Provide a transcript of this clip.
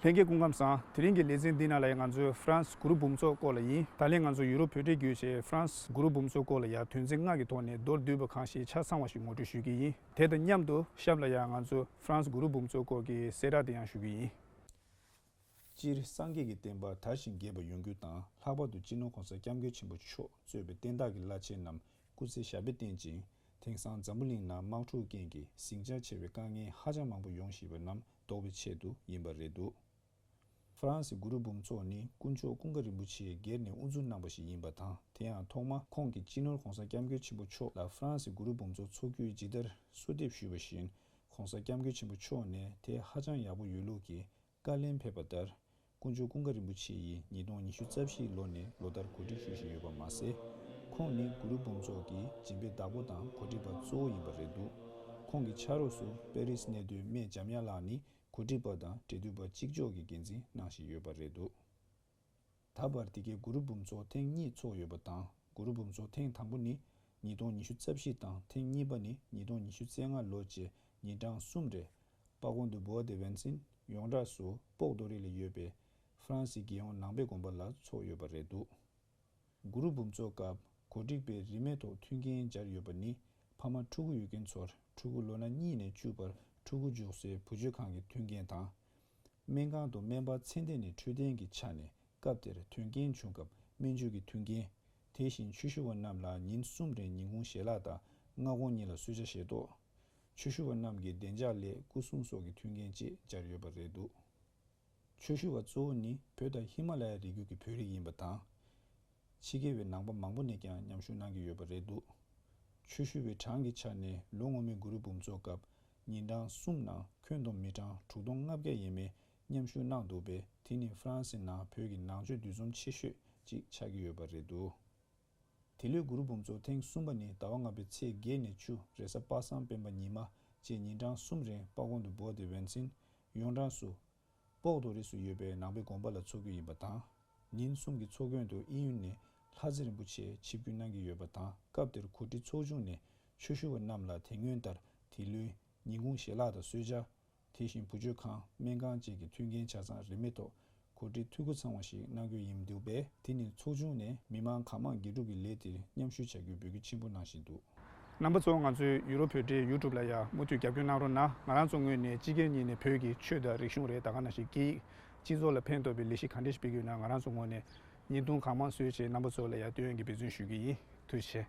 ལྷན་རྒྱས་སྐུ་ཁམས་བཟང། དེ་རིང་གི་ལེ་ཚན་འདི་ནང་ལ་ཡང་ང་ཚོའི་ཧྥ་རན་སི་གུ་རུ་འབུམ་ཚོགས་སྐོར་ལ་ཡིན། ད་ལན་ང་ཚོ་ཡུ་རོབ་བོད་འབྲེལ་བརྒྱུད་ཞེས་ཧྥ་རན་སི་གུ་རུ་འབུམ་ཚོགས་སྐོར་ལ་ཡང་དོན་ཚན་ལྔ་གི་ཐོག་ནས་མདོར་བསྡུས་པ་གང་ཞིག་ཆ་ཚང་བ་ཞིག་ངོ་སྤྲོད་ཞུ་གི་ཡིན། དེ་དང་མཉམ་དུ་ཞབས་ལ་ཡང་ང་ཚོའི་ཧྥ་རན་སི་གུ་རུ་འབུམ་ཚོགས་སྐོར་གྱི་གསལ་བསྒྲགས་དེ་ཡང་ཞུ་གི་ཡིན། སྤྱིར་སངས་རྒྱས་ཀྱི་བསྟན་པ་དར་ཞིང་རྒྱས་པ་ཡོང་རྒྱུ་དང་ལྷག་པར་དུ་སྤྱི་ནོར་གོང་ས་སྐྱབས་མགོན་ཆེན་པོ་མཆོག་གཙོས་པའི་བསྟན་བདག་གི་བླ་ཆེན་རྣམས་སྐུ་ཚེ་ཞབས་པད་བརྟན་ཅིང་དེང་སང་འཛམ་བུ་གླིང་ན་དམག་འཁྲུག་རྐྱེན་གྱིས་ཟིང་ཆ་ཆེ་བའི་དཀའ་ངལ་ཧ་ཅང་མང་པོ་ཡོང་བཞིན་པ་རྣམས་བཟློག་པའི་ཆེད་དུ་ཡིན་པ་རེད་འདུག་ཧྥ་རན་སི་གུ་རུ་འབུམ་ཚོགས་ནི་དཀོན་མཆོག་ཀུན་དགའ་རིན་པོ་ཆེས་སྒེར་ནས་དབུ་འཛུགས་གནང་པ་ཞིག་ཡིན་པ་དང་དེ་ཡང་ཐོག་མ་ཁོང་གིས་སྤྱི་ནོར་གོང་ས་སྐྱབས་མགོན་ཆེན་པོ་མཆོག་ལ་ཧྥ་རན་སི་གུ་རུ་འབུམ་ཚོགས་འཚོགས་རྒྱུའི་ཇི་ལྟར་གསོལ་འདེབས་ཞུས་པ་བཞིན་ཁོང་ས་སྐྱབས་མགོན་ཆེན་པོ་མཆོག་ནས་དེ་ཧ་ཅང་ཡག་པོ་ཡོད་ལུགས་ཀྱིས་བཀའ་ལན་ཕེབས་པ་ལྟར། སྐུ་མཆོག་ཀུན་དགའ་རིན་པོ་ཆེ་ཡིས་ཉིས་སྟོང་ཉི་ཤུ་རྩ་བཞིའི་ལོ་ནས་ལོ་ལྟར་གོ་སྒྲིག་ཞུ་བཞིན་ཡོད་པ་མ་ཟད། ཁོང་ནི་གུ་རུ་འབུམ་ཚོགས་ཀྱི་སྦྱིན་པའི་བདག་པོ་དང་གོ་སྒྲིག་པ་གཙོ་བོ་ཡིན་པ་རེད་འདུག་ཁོང་གི་ཕྱག་རོགས་སུ་པེ་རིས་གནས་སྡོད་སྨད་འཇམ་དབྱངས་ལགས་ནི་གོ་སྒྲིག་པ་དང་འབྲེལ་མཐུད་པ་གཅིག་ལྕོགས་ཀྱི་འགན་འཛིན་གནང་བཞིན་ཡོད་པ་རེད་འདུག། ད་བར་དེ་གའི་གུ་རུ་འབུམ་ཚོགས་ཐེངས་གཉིས་འཚོགས་ཡོད་པ་དང་གུ་རུ་འབུམ་ཚོགས་ཐེངས་དང་པོ་ནི་ཉིས་སྟོང་ཉི་ཤུ་རྩ་བཞི་དང་ཐེངས་གཉིས་པ་ནི་ཉིས་སྟོང་ཉི་ཤུ་རྩེ་ལྔ་ལོ་བཅས་ཉིན་གྲངས་གསུམ་རེད། སྤ་གོང་དུ་བོའོ་ཏེ་ཝན་ཅིན་ཡོངས་གྲགས་སུ་སྤོག་རྡོ་རིང་ལ་ཡོད་པའི་ཧྥ་རན་སིའི་རྒྱལ་ཡོངས་ནང་པའི་དགོན་པ་ལ་འཚོགས་ཡོད་པ་རེད་འདུག་གུ་རུ་འབུམ་ཚོགས་སྐབས་གོ་སྒྲིག་པས་རིན་མེད་ཐོག་མཐུན་རྐྱེན་སྦྱར་ཡོད་པ་ནི་ཕ་མ་ཕྲུ་གུ་ཡོད་མཁན་ཚོར་ཕྲུ་གུ་ལོ་ན་གཉིས་ནས་བཅུ་བར་ཕྲུ་གུ་འཇུག་སའི་བུ་བཅོལ་ཁང་གི་མཐུན་རྐྱེན་དང། སྨན་ཁང་དུ་སྨན་པ་མཚན་ལྡན་ནས་འཕྲོད་བསྟེན་གྱི་ཆ་ནས་སྐབས་དེར་དོན་རྐྱེན་བྱུང་སྐབས་སྨན་བཅོས་ཀྱི་མཐུན་རྐྱེན། དེ་བཞིན་ཆོས་ཞུ་བ་རྣམས་ལ་ཉིན་གསུམ་རེར་ཉིན་གུང་ཞལ་ལག་དང་སྔ་དགོང་གཉིས་ལ་གསོལ་ཇ་བཞེས་ཏོག། ཆོས་ཞུ་བ་རྣམས་ཀྱི་བདེ་འཇགས་སླད་སྐུ་སྲུང་སོགས་ཀྱི་མཐུན་རྐྱེན་བཅས་སྦྱར་ཡོད་པ་རེད་འདུག་ཆོས་ཞུ་བ་གཙོ་བོ་ནི་བོད་དང་ཧི་མ་ལ་ཡ་རི་རྒྱུད་ཀྱི་བོད་རིགས་ཡིན་པ་དང། ཕྱི་རྒྱལ་བའི་ནང་པ་མང་པོ་ནས་ཀྱང་མཉམ་ཞུགས་གནང་གི་ཡོད་པ་རེད་འདུག་ཆོས་ཞུ་བའི་གྲངས་ཀྱི་ཆ་ནས་ལོ་སྔོན་མའི་གུ་རུ་འབུམ་ཚོགས་སྐབས་ཉིན་གྲངས་གསུམ་ནང་ཁྱོན་བསྡོམས་མི་གྲངས་དྲུག་སྟོང་ལྔ་བརྒྱ་ཡས་མས་མཉམ་ཞུགས་གནང་འདུག་པས་དེ་ནི་ཧྥ་རན་སི་ནང་བོད་ཀྱི་ནང་ཆོས་འདུས་འཛོམས་ཆེ་ཤོས་ཅིག་ཆགས་ཀྱི་ཡོད་པ་རེད་འདུག་དེ་ལོའི་གུ་རུ་འབུམ་ཚོགས་ཐེངས་གསུམ་པ་ནི་ཟླ་བ་ལྔ་པའི་ཚེས་བརྒྱད་ནས་བཅུ་རེ་ས་སྤ་སངས་སྤེན་པ་ཉི་མ་བཅས་ཉིན་གྲངས་གསུམ་རིང་སྤ་གོང་དུ་སྦོ་སྟེ་བན་ཆིན་ཡོངས་གྲགས་སུ་པོག་ཏོ་རིས་སུ་ཡོད་པའི་ནང་པའི་དགོན་པ་ལ་འཚོགས་རྒྱུ་ཡིན་པ་དང། ཉིན་གསུམ་གྱི་འཚོགས་སྐྱོན་དུ་དབྱིན་ཡུལ་ནས་ལྷ་རྩེ་རིན་པོ་ཆེ་ཆིབས་བསྒྱུར་གནང་གི་ཡོད་པ་དང་སྐབས་དེར་གོ་སྒྲིག་ཚོགས་ཆུང་ནས་ཆོས་ཞུ་བ་རྣམས་ལ་དེ་སྔོན་ལྟར་དེ་ལོའི་ཉིན་གུང་ཞལ་ལག་དང་གསོལ་ཇ། དེ་བཞིན་བུ་བཅོལ་ཁང་སྨན་ཁང་བཅས་ཀྱི་མཐུན་རྐྱེན་ཆ་ཚང་རིན་མེད་ཐོག་གོ་སྒྲིག་འཐུས་སྒོ་ཚང་བ་ཞིག་གནང་རྒྱུ་ཡིན་འདུག་པས་དེ་ནི་ཚོགས་ཆུང་ནས་མི་མང་གང་མང་དགེ་སྒྲུབ་ཀྱི་ལས་དེར་མཉམ་ཞུགས་བྱ་རྒྱུའི་འབོད་སྐུལ་ཆེན་པོ་གནང་བཞིན་འདུག། རྣམ་པ་གཙོ་བོ་ང་ཚོའི་ཡུ་རོབ་བོད་འབྲེལ YouTube ལ་ཡང་མུ་མཐུད་རྒྱབ་སྐྱོར་གནང་རོགས་གནང་ང་རང་ཚོ་དངོས་ནས་སྤྱི་སྒེར་གཉིས་ནས་བོད་ཀྱི་ཆོས་དང་རིག་གཞུང་རེད་ད་ག་ན་ཞིག་སྐད་ཡིག་སྤྱི་ཚོགས་ལ་ཕན་ཐོག་པའི་ལས་གཞི་གང་འདྲ་ཞིག་སྤེལ་གྱི་ཡོད་ན་ང་རང་ཚོ་ངོས་ནས་བརྙན་ཐུང་གང་མང་བཟོས་བྱས་རྣམ་པ་ཚོ་ལ་ཡང་ལྟོས་ཡོན་གྱི་འབད་བརྩོན་ཞུས་ཀྱི་ཡིན་ཐུགས་ཆེ།